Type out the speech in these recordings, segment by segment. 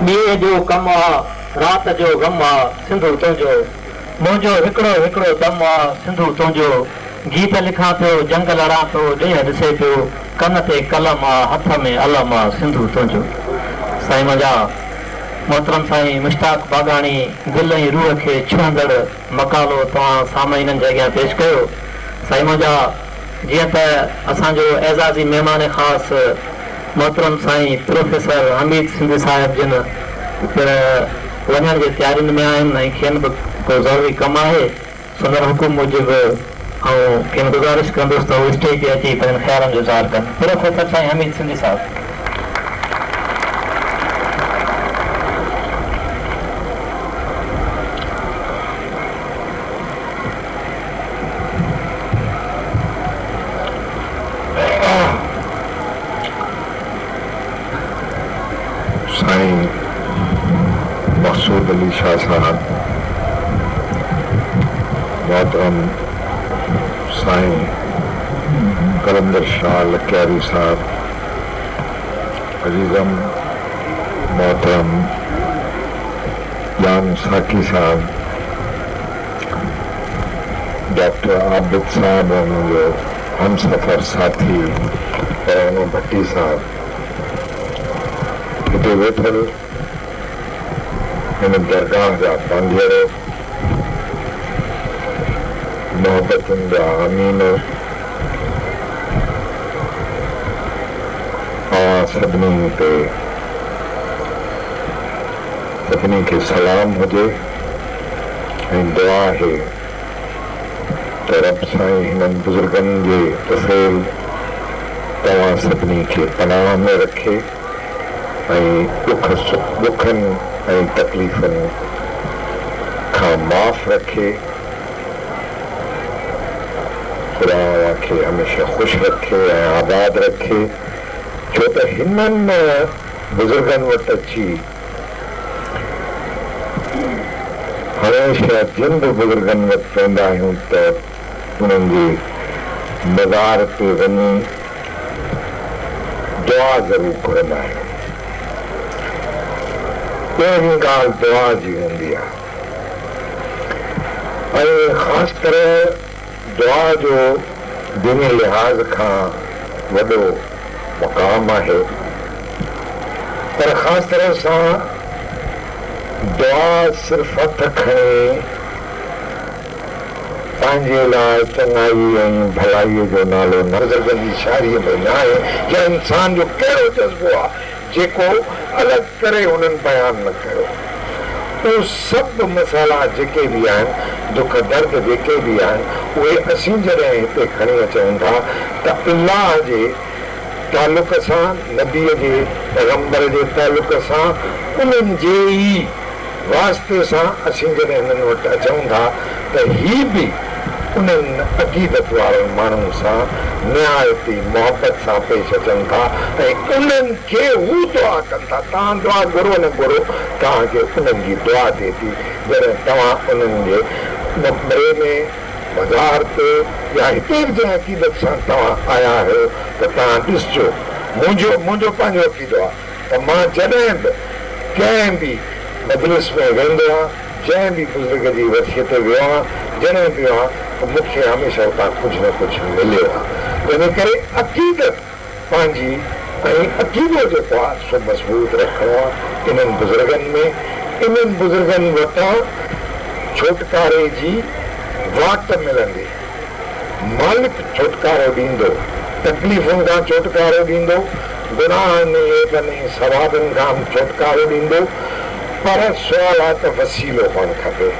ڏينهن جو ڪم آ، رات جو غم آ، سنڌو تنهنجو. منهنجو هڪڙو هڪڙو دم آ، سنڌو تنهنجو. گيت لکان پيو، جنگ لڙان ٿو، ڏينهن ڏسي پيو. ڪن تي قلم آ، هٿ ۾ علم آ، سنڌو تنهنجو. سائين منهنجا محترم سائين مشتاق باگاڻي دل ۽ روح کي ڇهندڙ مقالو توهان سامعينن جي اڳيان پيش ڪيو سائين منهنجا. جيئن ته اسان جو اعزازي مهمان خاص محترم سائين پروفيسر حميد سنڌي صاحب جن پڻ وڃڻ جي تيارين ۾ آهن ۽ کين به ڪو ضروري ڪم آهي، سندن حڪم موجب آئون کين گذارش ڪندس ته هو اسٽيج تي اچي پنهنجن خيالن جو اظهار ڪن. پروفيسر سائين حميد سنڌي صاحب. سائين مقصود علي شاهه صاحب، محترم سائين قلندر شاهه لڪياري صاحب، عزيزم محترم ڄام ساقي صاحب، ڊاڪٽر عابد صاحب ۽ منهنجو همسفر ساٿي پروانو ڀٽي صاحب هتي ويٺل هن درگاهه جا پانڌيئڙو، محبتن جا امين، اوهان سڀني تي سڀني کي سلام هجي. ۽ دعا آهي ته رب سائين هنن بزرگن جي طفيل توهان سڀني کي پناهه ۾ رکي ۽ ڏکن ۽ تڪليفن کان معاف رکي خدا اوهان کي هميشه خوش رکي ۽ آباد رکي ڇو ته هنن بزرگن وٽ اچي هميشه جن به بزرگن وٽ ويندا آهيون ته انهن جي مزار تي وڃي دعا ضرور گهرندا آهيون. پهرين ڳالهه دعا جي هوندي آهي ۽ خاص طرح دعا جو ديني لحاظ کان وڏو مقام آهي پر خاص طرح سان دعا صرف هٿ کڻي پنهنجي لاء چڱائي ۽ ڀلائي جو نالو نه. بزرگن جي شاعريء ۾ نه آهي يا انسان جو ڪهڙو جذبو آهي. جيڪو الڳ ڪري هنن بيان نه ڪيو. اهي سڀ مسئلا جيڪي به آهن، دک درد جيڪي به آهن، اهي اسين جڏهن هتي کڻي اچون ٿا ته الله جي تعلق سان، نبيء جي، پيغمبر جي تعلق سان، انهن جي ئي. واسطي سان اسين جڏهن هنن وٽ اچون ٿا ته هي به انهن عقيدت وارن ماڻهن سان نهايت ئي محبت سان پيش اچن ٿا ۽ انهن کي هو دعا ڪن ٿا، توهان دعا گهرو نه گهرو، توهان کي انهن جي دعا ٿئي ٿي، جڏهن توهان انهن جي مقبري ۾، مزار تي يا هتي به جنهن عقيدت سان توهان آيا آهيو ته توهان ڏسجو، منهنجو منهنجو پنهنجو عقيدو آهي. ته مان جڏهن به ڪنهن به مجلس ۾ ويندو هان، جنهن به بزرگ جي ورسيء تي ويو هان، جڏهن به ويو هان ته مون کي هميشه اتان ڪجهه نه ڪجهه مليو آهي. تنهنجي ڪري عقيدت پنهنجي ۽ عقيدو جيڪو آهي سو مضبوط رکڻو آهي انهن بزرگن ۾، انهن بزرگن وٽان ڇوٽڪاري جي واٽ ملندي. مالڪ ڇوٽڪارو ڏيندو، تڪليفن کان ڇوٽڪارو ڏيندو، گناهن ۽ عيبن ۽ ثوابن کان به ڇوٽڪارو ڏيندو، پر سوال آهي ته وسيلو هئڻ کپي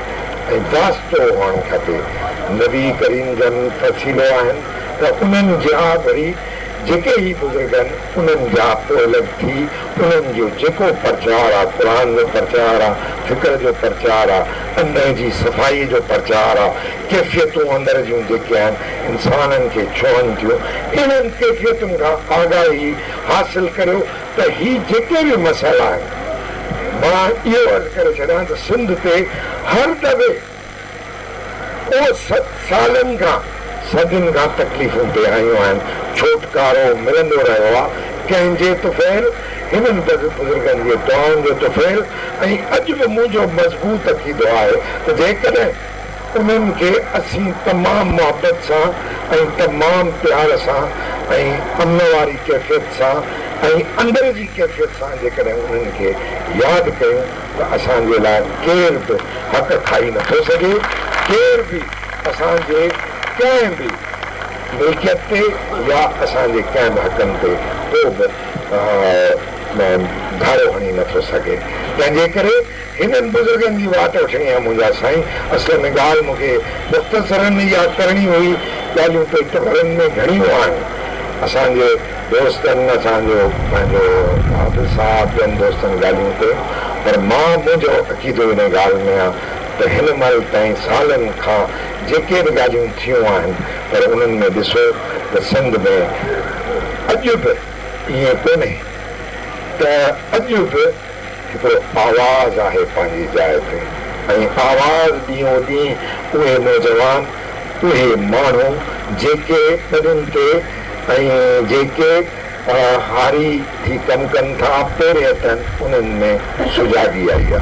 ۽ واسطو هئڻ کپي، نبي ڪريم جن وسيلو آهن ته انهن جا وري جيڪي هي بزرگ آهن انهن جا پوئلڳ ٿي انهن جو جيڪو پرچار آهي قرآن جو پرچار آهي، فڪر جو پرچار آهي، انهي جي صفائي جو پرچار آهي، ڪيفيتون اندر جون جيڪي آهن انسانن کي ڇهن ٿيون انهن ڪيفيتن کان آگاهي حاصل ڪريو ته هي جيڪي به مسئلا آهن مان اهو عرض ڪري ڇڏيان ته سنڌ تي هر دٻي ڪو سالن کان صدين کان تڪليفون پئي آيون آهن ڇوٽڪارو ملندو رهيو آهي ڪنهن جي طفيل هنن بزرگن جي دعائن جو طفيل ۽ اڄ به منهنجو مضبوط عقيدو آهي ته جيڪڏهن انهن کي اسين تمام محبت سان ۽ تمام پيار سان ۽ امن واري ڪيفيت سان ۽ اندر جي ڪيفيت سان جيڪڏهن انهن کي ياد ڪيون ته اسان جي لاء ڪير به حق کائي نه ٿو سگهي ڪير به اسان جي ڪنهن به ملڪيت تي يا اسان جي ڪنهن به حقن تي ڪو به گهارو هڻي نه ٿو سگهي تنهن جي ڪري هنن بزرگن جي واٽ وٺڻي آهي منهنجا سائين. اصل ۾ ڳالهه مون کي مختصراً ياد ڪرڻي هئي. ڳالهيون پيٽ ڀرڻ ۾ گهڻيون آهن. اسان جي دوستن اسان جو پنهنجو قابل صاحب ٻين دوستن ڳالهيون ڪيون پر مان منهنجو عقيدو ان ڳالهه ۾ آ ته هن مهل تائين سالن کان جيڪي به ڳالهيون ٿيون آهن پر انهن ۾ ڏسو ته سنڌ ۾ اڄ به ائين ڪونهي ته اڄ به هڪڙو آواز آهي پنهنجي جاء تي ۽ آواز ڏينهون ڏينهن اهي نوجوان اهي ماڻهو جيڪي ٻڏن تي ۽ جيڪي هاري ٿي ڪم ڪن ٿا پورهيتن انهن ۾ سجاڳي آئي آهي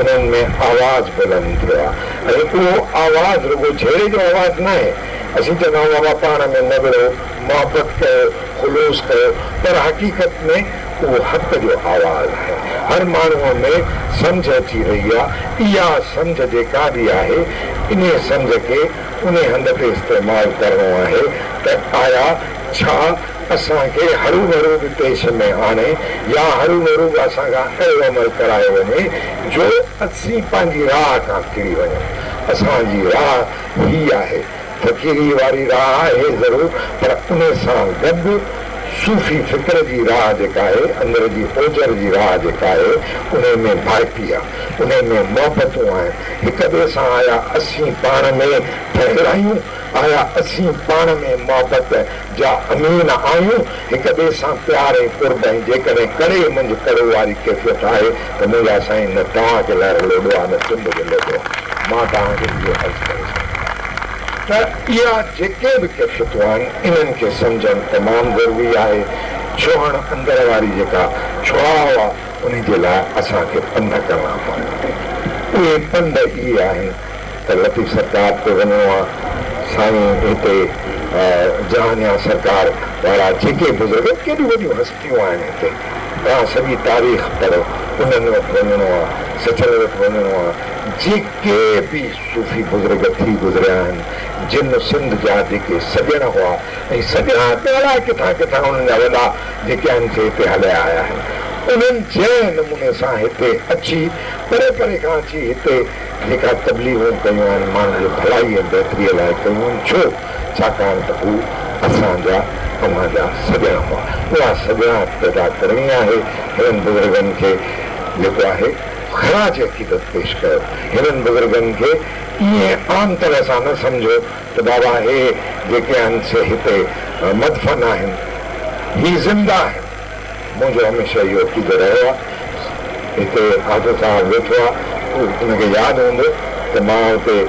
انهن ۾ آواز بلند ٿيو آهي ۽ اهو آواز رڳو جهيڙي جو آواز ناهي اسين چوندا آهيون بابا پاڻ ۾ نوڙو محبت ڪيو خلوص ڪيو پر حقيقت ۾ اهو حق جو آواز آهي. هر ماڻهوء ۾ سمجهه اچي ويئي آهي. اها سمجهه جيڪا به آهي، انهيء سمجهه کي انهيء هنڌ تي استعمال ڪرڻو آهي ته آيا ڇا اسان کي هروڀرو به پيش ۾ آڻي يا هروڀرو به اسان کان اهڙو عمل ڪرايو وڃي جو اسين پنهنجي راهه کان ڦري وڃون. اسان جي راهه هيء آهي فقيريء واري راهه آهي ضرور پر ان سان گڏ صوفي فڪر جي راهه جيڪا آهي، اندر جي اوجر جي راهه جيڪا آهي، انهي ۾ ڀائپي آ، انهي ۾ محبتون آهن، هڪ ٻئي سان آيا اسين پاڻ ۾ ٺهيل آهيون، آيا اسين پاڻ ۾ محبت جا امين آهيون، هڪ ٻئي سان پيار ۽ قرب ۽ جيڪڏهن ڪڙي منجهه ڪڙو واري ڪيفيت آهي ته منهنجا سائين نه توهان کي لهر لوڏو آهي نه سنڌ کي لوڏو آهي مان توهان کي اهو عرض ڪري سگهندو آهيان ته اها جيڪي به ڪيفيتون آهن انهن کي سمجهڻ تمام ضروري آهي ڇهڻ اندر واري جيڪا ڇهاء آهي انهي جي لاء اسان کي پنڌ ڪرڻا پوندا آهن اهي پنڌ اهي آهن. ته لطيف سرڪار تي وڃڻو آ سائين هتي جهانيان سرڪار وارا جيڪي بزرگ آهن ڪيڏيون وڏيون هستيون آهن هتي توهان سڄي تاريخ پڙهو انهن وٽ وڃڻو آ سچل وٽ وڃڻو آ جيڪي به صوفي بزرگ ٿي گذريا آهن جن سنڌ جا جيڪي سڄڻ هئا ۽ سڄڻا ته الائي ڪٿان ڪٿان انهن جا وڏا جيڪي آهن سي هتي هليا آيا آهن انهن جنهن نموني سان هتي اچي پري پري کان اچي هتي جيڪا تبليغون ڪيون آهن، ماڻهن جي ڀلائي ۽ بهتريء لاء ڪيون آهن، ڇو؟ ڇاڪاڻ ته هو اسان جا اوهان جا سڄڻا هئا. اها سڄڻائپ پيدا ڪرڻي آهي. هنن بزرگن کي جيڪو آهي خراج عقيدت پيش ڪيو. هنن بزرگن کي ائين عام طرح سان نه سمجهو ته بابا هي جيڪي آهن سي هتي مدفن آهن. هي زنده آهن. منهنجو هميشه اهو عقيدو رهيو آهي هتي حافظ صاحب ويٺو آهي ان کي ياد هوندو ته مان هتي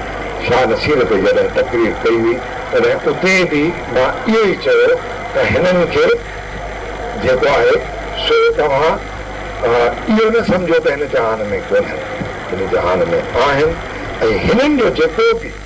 شاهه نصير تي جڏهن تقرير ڪئي هئي تڏهن اتي به مان اهو ئي چيو ته هنن کي جيڪو آهي سو توهان اهو نه سمجهو ته هن جهان ۾ ڪونهن هن جهان ۾ آهن ۽ هنن جو جيڪو به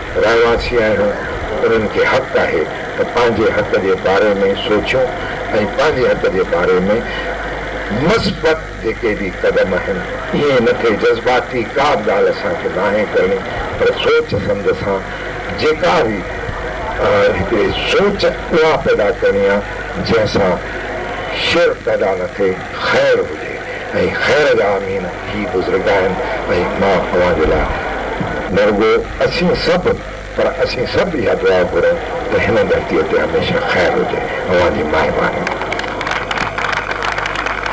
رهواسي آهيون، انهن کي حق آهي ته پنهنجي حق جي باري ۾ سوچيون ۽ پنهنجي حق جي باري ۾ مثبت جيڪي به قدم آهن، ائين نه ٿئي جذباتي ڪا به ڳالهه اسان کي ناهي ڪرڻي پر سوچ سمجهه سان جيڪا به هڪڙي سوچ اها پيدا ڪرڻي آهي جنهن سان شر پيدا نه ٿئي. خير هجي ۽ خير جا آمين هي بزرگ آهن ۽ مان اوهان جي لاء نه رڳو اسين سڀ پر اسين سڀ اها دعا گهرون ته هن ڌرتي تي هميشه خير هجي اوهان جي مهرباني.